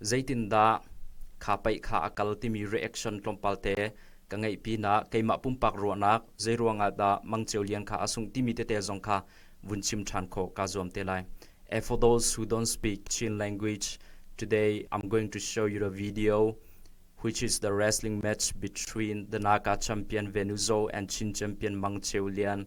Zeitindah kha pei kha a kal timi reaction tlawmpal te ka ngeih pinah keimah pumpak ruahnak zeiruangah dah mangceu lian kha a sungh timi tete zong kha vun chim ṭhan khawh kaa zuam te lai. And for those who don't speak Chin language, today I'm going to show you a video which is the wrestling match between the Naga champion Venuzo and Chin champion Mangcheu Lian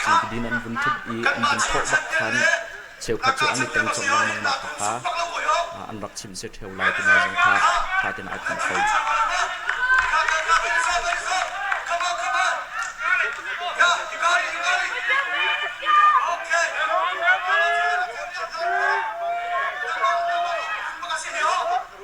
Thlanti din an vun ṭhut i an vun thawh bak khan cheukhat cu an i teng colh lengmang mah kha kha an rak chimh si ṭheo lai ti zong kha ṭha tein ai pum kho.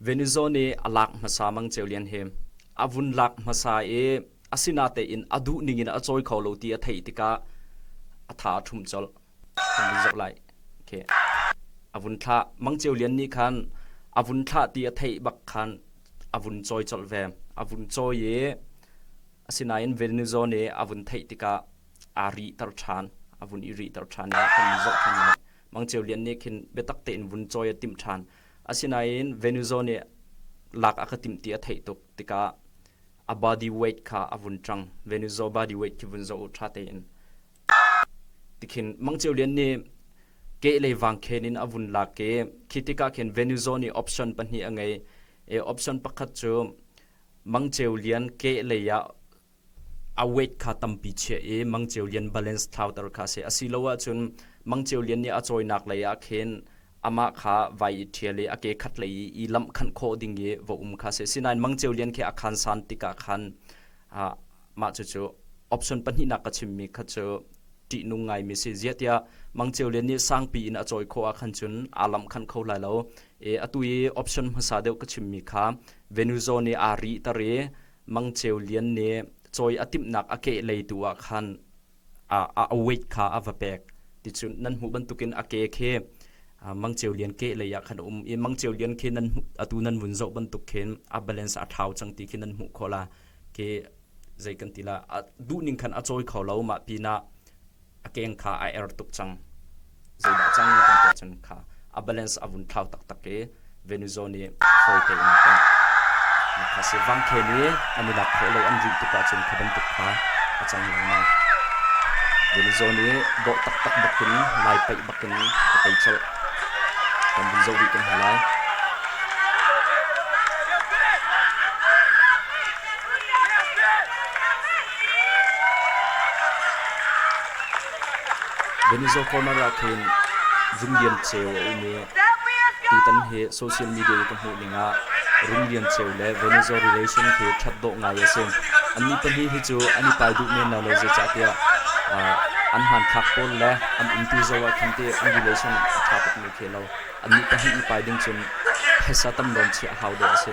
Venezuela nih a lak hmasa mang cio lian hi a vun lak hmasa i asinatein a duh ning in a cawi kho lo ti a theih tikah a tha a ṭhum colh. A vun thlah. Mang cio lian nih khan a vun thlah ti a theih bak khan a vun cawi colh ve. A vun cawi i asinain Venezuela nih a vun theih tikah aa rihter ṭhan, a vun i rihter ṭhan i a kan zoh ṭhan lai. Mangcheu Lian nih khin biatak tein vun cawi a timh ṭhan. Asinain Venuzo nih lak a ka timh ti a theih tuk tikah a body weight kha a vun ṭang. Venuzo body weight khi vun zoh u ṭha tein. Tikhin Mangcheu Lian nih kehlei vangkhen in a vun lak i khi tikah khin Venuzo nih option pahnih a ngei i option pakhat cu Mangcheu Lian kehlei ah a weight kha tampi chiah i mangceu lian balance thlauter kha si asilo ahcun mangceu lian nih a cawinak lei ah khin amah kha vai i ṭhial i a ke khat lei i i lamh khanh khawh ding i va um kha si sinain mangceu lian khi a khan san tikah khan mah cucu option pahnihnak ka chimmi kha cu ṭihnung ngaimi si ziatiah mangceu lian nih sangpi in a cawi khawh ah khan cun aa lamh khanh kho lai lo i atu i option hmasa deuh ka chimmi kha venuzo nih aa ri tar i Mang Ceu Lian nih cawi a timhnak a kehlei tu ah khan a, a weight kha a va pek ti cu nan hmuh bantukin a ke khi Mang Ceu Lian ke lei ah khan um i Mang Ceu Lian khi nan atu nan vun zoh bantuk khin a balance a thau cang ti khi nan hmuh khawh la ke zei kan ti la a duh ning khan a cawi kho lo mah pinah a keng kha a er tuk cang. Zeidah cang kan tuah cun kha a balance a vun thlau taktak i Venuzo nih fawi tein a tongh. Nakha si vangkhen i an i lak khawh lo an rinh tuk ahcun kha bantuk kha a cang lengmang. Venuzo nih dawh taktak bakin lai peih bakin a tei colh. Kan vun zoh rih kan hei lai. Venizo Corner ah khin Rum Lian Ceu a um i tutan hi social media i ka hmuh ning ah Rum Lian Ceu le Venizo relation khi ṭhat dawh ngai a si. Annih pahnih hi cu an i pai duh men lo lo zeicahtiah an hmanthlak pawl le an umtu zoh ah khan ti an relation a ṭha tukmi khi a lo. Annih pahnih i pai ding cun phaisa tam loin chiah a hau dawh a si.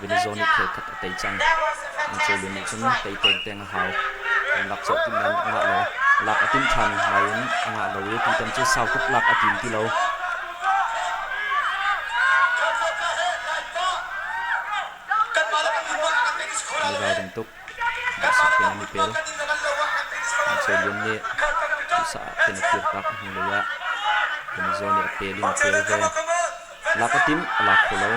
Venezuela nih khelkhat a tei cang. An cawlio nih cun tei peng peng a hau. An lak colh timh nain a ngah lo. Lak a timh ṭhan nain a ngah lo i tutan cu sau tuk lak a tim ti lo. Mi ralring tuk. Duhsah tein an i pel. An cawlio nih duhsah tein a kir tak a hnulei ah Venezuela nih a pel in a pel ve. La ka timh a la kho lo.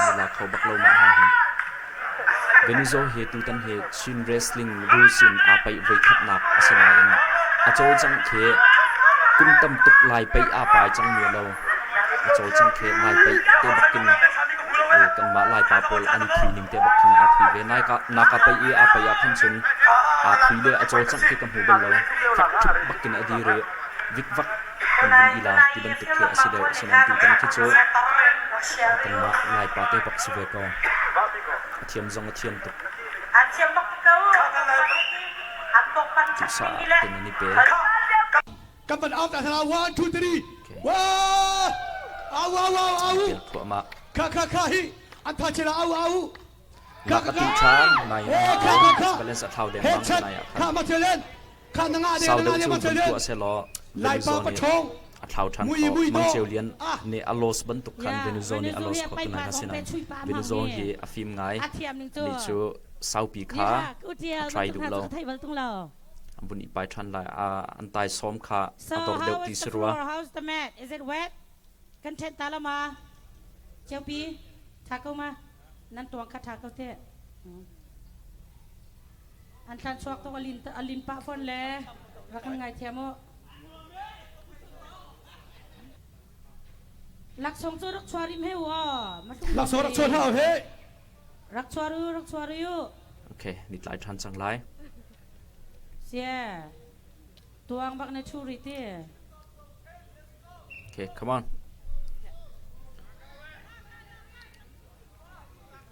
Mi la kho bak lo mah ha hin. Venizo he tutan he Chin wrestling rules in aa paih voikhatnak a si nain a cawlcang khi kum tam tuk lai pei aa pai cang mia lo. a cawlcang khi ngai peih te bak in kanmah Laipa pawl an i thi ning te bak khin aa thi ve. Naka pei i aa pei ah khan cun aa thi le a cawlcang khi ka hmu bal lo. Ṭhip bak in a dir i vikvak kan vun ila ti bantuk khi a si deuh. Sinain tutan khi cu kanmah Laipa te bak si ve ko. A thiam zong a thiam tuk. Cusaah ten an i pe. Kan van out hna one two three wow au au au au thuahmah kha kha kha hi an tha chela au au kha kha kha nai kha kha kha balance a thlau de mang nai a kha ma chelen kha nanga de nanga de ma chelen tua se lo lai pa pathong a thlau than ko mang cheu lian ne a los ban tuk khan Venezuela ni a los ko tunai na sinan Venezuela hi a film ngai ni chu saupi kha try du lo vun i pai ṭhan lai. Ah, an taisawm kha a dor deuh ti si rua. How's the mat? Is it wet? Content ta lo ma? Cheupi, tha ko ma? Nan tuang kha tha ko te. An thlan suak tuk alin alin pah fon le rak kan ngai thiam u. Laksong cu rak chuarim he wo. Laksong rak chuan hau he. Rak chuar u, rak chuar u. Okay, ni tlai ṭhan cang lai. Sia, tuang bak na ṭhu rih ti. Okay, come on.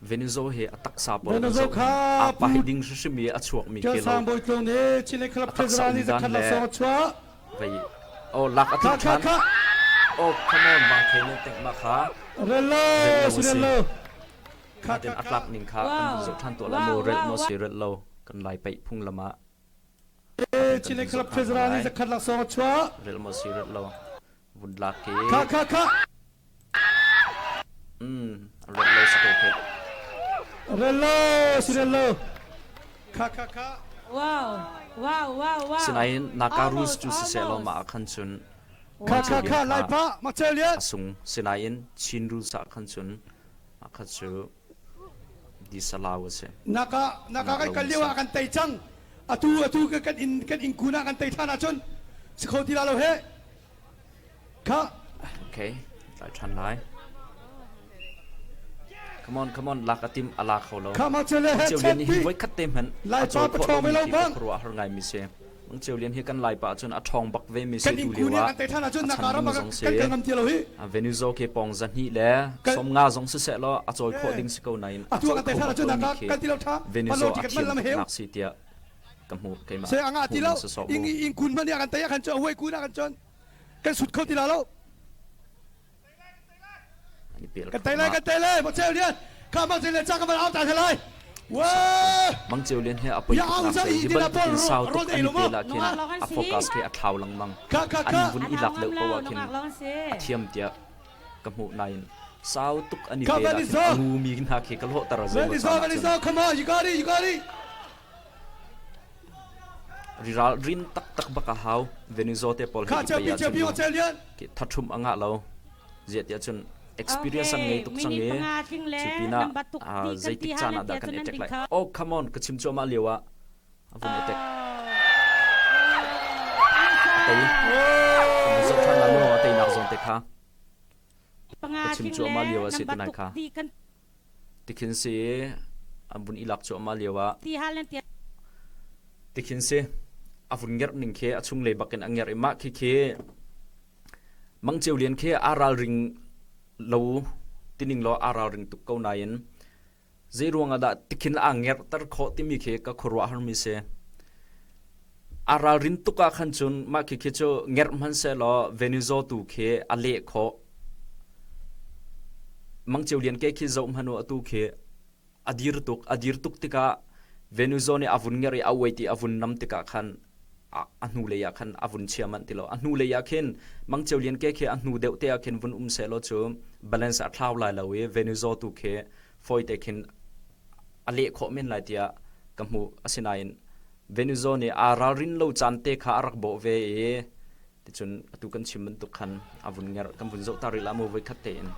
Venezuela hi a taksa pawl Venezuela kha apa hi ding hrim hrim i a chuak mi ke lo. Kan sang bawi tlung nih Chin club president ni zakhat la song a chuah. Vei. Oh, lak a tlin than. Oh, come on, mangkhe nih tengh ma kha. Rello, rello. Kha den atlak ning kha an zoh than to la lo rel no se rel lo kan lai pai phunglam ah. Chile club treasurer ni zakhat laksong chua. Rel mo si rel lo. Vun lak ke. Kha kha kha. Sinain naka rules cu sisehlaw mah ah khan cun a sung. Sinain Chin rules ah khan cun akhat cu disalau a si. Naka kan kal lio ah kan tei cang. Atu atu kan in kun ah kan tei than ahcun si kho ti la lo heh. Okay, tlai ṭhan lai. Come on, come on, lak a tim a la kho lo. Cio Lian hi voi khat te hman a cawi phaw lo mi khi ka khuru a har ngai mi si. Mang Cio Lian hi kan lai pa achun a ṭhawng bak ve mi si tu liu a. A chan mi zong si. A Venuzo ke pong za ni le som nga zong si se lo a cawi kho ding si ko na in. A cawi kho mi khi Venuzo a thiam nak si tia. ka hmu keimah se angah ti lo ing ing kun man ya kan taya kan chon huai kun a kan chon kan sut kho ti la lo kan tai lai kan tai lai mo chel lian ka ma chel le cha ka mal au ta se lai wa mang cheu len he apoi in sau to ani te la khin a focus ke athaw lang mang an vun ilak le powa khin athiam tia ka mu nain sau tuk ani te la ngu mi na ke ka lo tar zo come on you got it you got it Riralrin taktak bak a hau. Venezuela te pawl hi hi thathum a ngah lo. Ziah cun experience ang ngei tuk sang e cu pinah zeitik caan ah dah kan etek lai oh come on ka chim cuahmah lio ah a vun etek tei zong than la mu a tei nak zong te kha ka chim cuahmah lio a si tunai kha Tikhin si an vun i lak cuahmah lio ah tikhin si a vun ngerh ning khi a chunglei bak in a ngerh i mah khi khi mangceu lian khi aa ralring lo tining law aa ralring tuk ko nain zei ruang ah dah tikhin a ngerhter khawh timi khi ka khuaruah har mi si. A ralrin tuk ah khan cun mah khikhi cu ngerh hmanhsehlaw Venizo tu khi a leh khawh. Mangceu lian ke khi zoh hmanu atu khi a dir tuk. A dir tuk tikah Venizo nih a vun ngerh i a uait i a vun nam tikah khan a hnu lei ah khan a vun chia manh ti lo. A hnu lei ah khin mangceu lian ke khi a hnu deuh te ah khin vun um sehlaw cu balance a thlau lai lo i Venizo tu khi fawite khin a leh khawh men lai tiah ka hmuh asinain Venezuela nih aa ralrin lo caan te kha a rak bawh ve i ticun atu kan chim bantuk khan a vun nger kan vun zoh ta rih la mo voi khat te in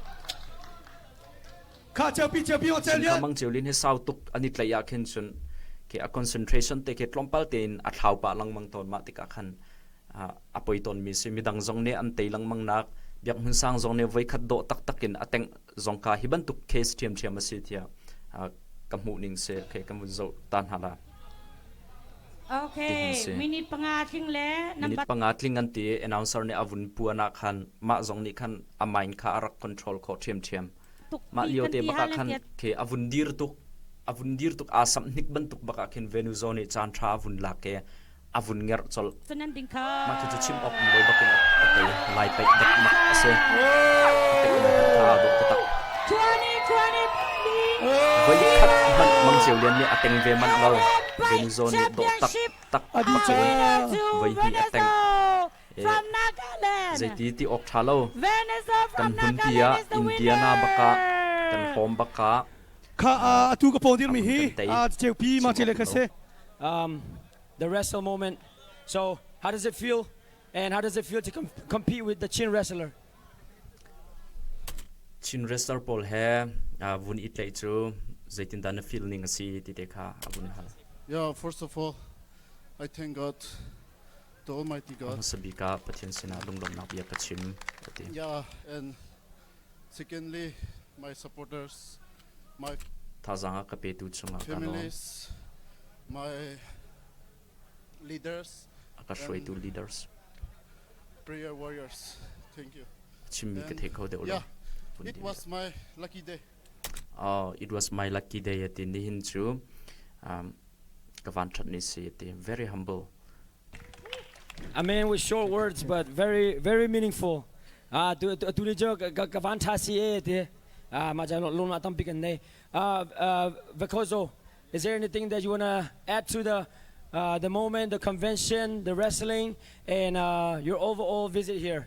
kha cheupi cheupi hotel nia mang chiu lin he sau tuk ani tlai ya khin chun ke a concentration te ke tlompal te in a thlau pa langmang ton ma tika khan a poi ton mi si mi dang zong ne an te langmang nak biak hun sang zong ne voi khat do tak takin a teng zong ka hi bantuk case ṭhiamṭhiam a si tiah ka hmuh ning si okay ka mun zoh ta hna la Okay, minute panga tling le minute panga tling an ti announcer nih a vun puan ah khan mah zong nih khan a mind kha a rak control kho ṭhiam ṭhiam mah lio te baka khan ke a vun dir tuk a vun dir tuk a sam hnik bantuk baka khin Venuzo nih chan tha a vun lak ke a vun ngerh colh. Mah cucu chim awkmi bawi bak in a ṭe. Lai paih dekmak a si. A tekmi hmanh kha aa dawh taktak. Voikhat hmanh Mang Ceu Lian nih a teng ve manh lo. Venuzaw nih dawh taktak bak in voihnih a teng. Zeiti ti awk ṭha lo. Kan hnunpi ah Indiana bak ah, kan hawm bak ah. Kha atu ka paw dirmi hi a ceupi mah cele kha si. Um, the wrestle moment. So, how does it feel? And how does it feel to com compete with the chin wrestler? Chin wrestler pawl he uh, vun it lei cu zeitin dan na feel ning asi ti te kha a vun hal. Yeah, first of all, I thank God to Almighty God. Sabika Pathian sinah lunglawmnak bia ka chim. Yeah, and Secondly, my supporters, my Thazaang a ka petu chungah ka lawm. families, my leaders, A ka hruaitu leaders. prayer warriors. Thank you. Chimmi ka thei kho deuh lo. Yeah, Phun it din was my lucky day. Oh, it was my lucky day a ti nihin cu um, ka van ṭhat ni si a ti. Very humble Amen with short words but very very meaningful. Ah tu tu ni jo ka van tha si e te ah ma ja lo na tam pi kan nei. Ah Vakozo is there anything that you want to add to the uh, the moment, the convention, the wrestling, and uh, your overall visit here?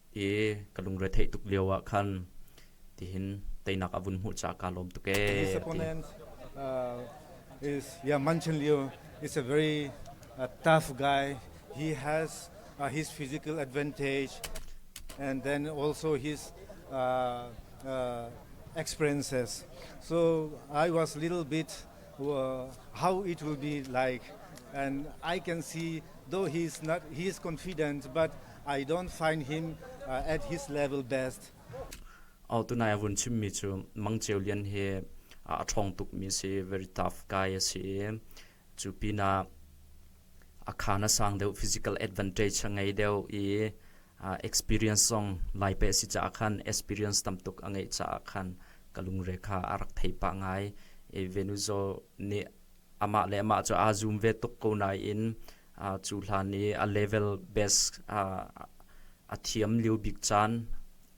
i ka lungre theih tuk lio ah khan tihin teinak a vun hmuh ca ka lawm tuk ee. His opponent uh, is yeah mentioned Leo is a very a tough guy. He has uh, his physical advantage and then also his uh, uh, experiences. So I was a little bit how it will be like and I can see though he's not he is confident but I don't find him uh, at his level best Au tunai avun chimmi cu mangcheu lian hi a thong tuk mi si very tough guy asi cu pina a khana sang deuh physical advantage ngei deuh i experience zong lai pe a si caah khan experience tamtuk a ngeih caah khan ka lungre kha a rak thei pah ngai i Venuzo nih amah le amah cu aa zoom ve tuk ko nain cu hlan i a level best a thiam lio bik caan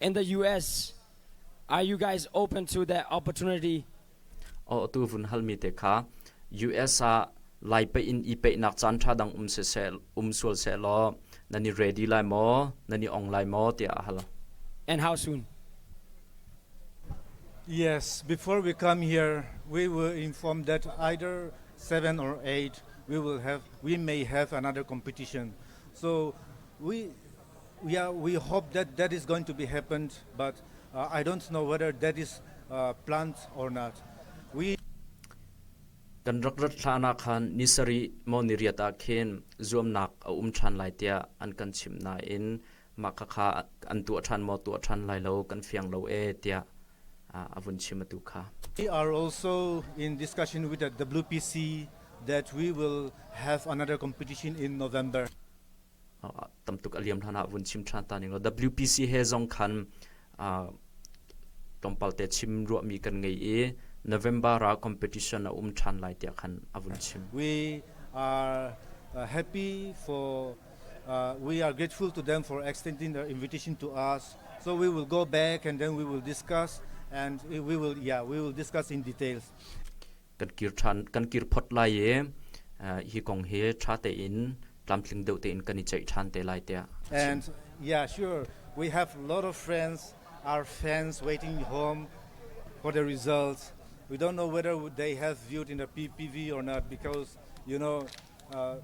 In the US, are you guys open to that opportunity? O tu vun hal mi te kha US ah lai pe in i pe nak chan tha dang um se se um sual se lo nani ready lai mo nani ong lai mo ti a hal And how soon? Yes, before we come here, we will inform that either seven or eight, we will have we may have another competition. So we Yeah, we hope that that is going to be happened, but uh, I don't know whether that is uh, planned or not. We kan rak rat hlana khan nisari mo ni riata khin zuamnak a um than lai tia an kan chim na in ma kha kha an tu than mo tu than lai lo kan fiang lo e tia avun chimatu kha we are also in discussion with the WPC that we will have another competition in November tamtuk a liam hlan ah vun chim ṭhan ta ning law WPC he zong khan tlawmpal te chim ruahmi kan ngei i November ah competition a um ṭhan lai tiah khan a vun chim. We are uh, happy for uh, we are grateful to them for extending their invitation to us. So we will go back and then we will discuss and we will yeah we will discuss in details. kan kir ṭhan kan kir phot lai i hi kong hi ṭha tein tlamtling deuh tein kan i ceih ṭhan te lai tiah And yeah, sure, we have a lot of friends, our fans waiting home for the results. We don't know whether they have viewed in the PPV or not because, you know, uh,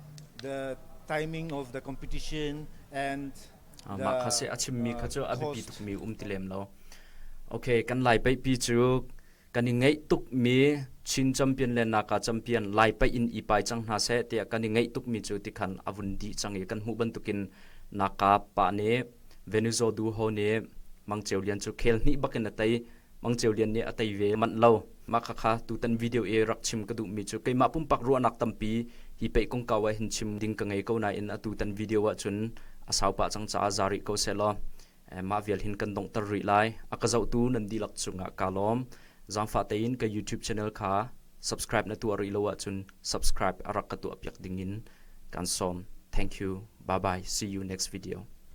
the timing of the competition and mah kha se a chimmi kha cu a biapi tukmi um ti lem lo okay kan lai pei pi cu Kan i ngeih tukmi Chin campian le Naga campian Lai paih in i pai cang hna seh tiah kan i ngeih tukmi cu tikhan a vun dih cang i kan hmuh bantukin Naga pa nih Venuzaw Du Ho nih Mang Ceu Lian cu khel hnih bak in a tei. Mang Ceu Lian nih a tei ve manh lo. Mah khakha tutan video i rak chim ka duhmi cu keimah pumpak ruahnak tampi hi pei kongkau ah hin chim ding ka ngei ko nain atutan video ahcun a sau pah cang caah za rih ko sehlaw mah vial hin kan donghter rih lai a ka zohtu nan dihlak cungah kaa lawm zaangfah tein ka youtube channel kha subscribe na tuah rih lo ahcun subscribe a rak ka tuah piak ding in kan sawm thank you bye bye see you next video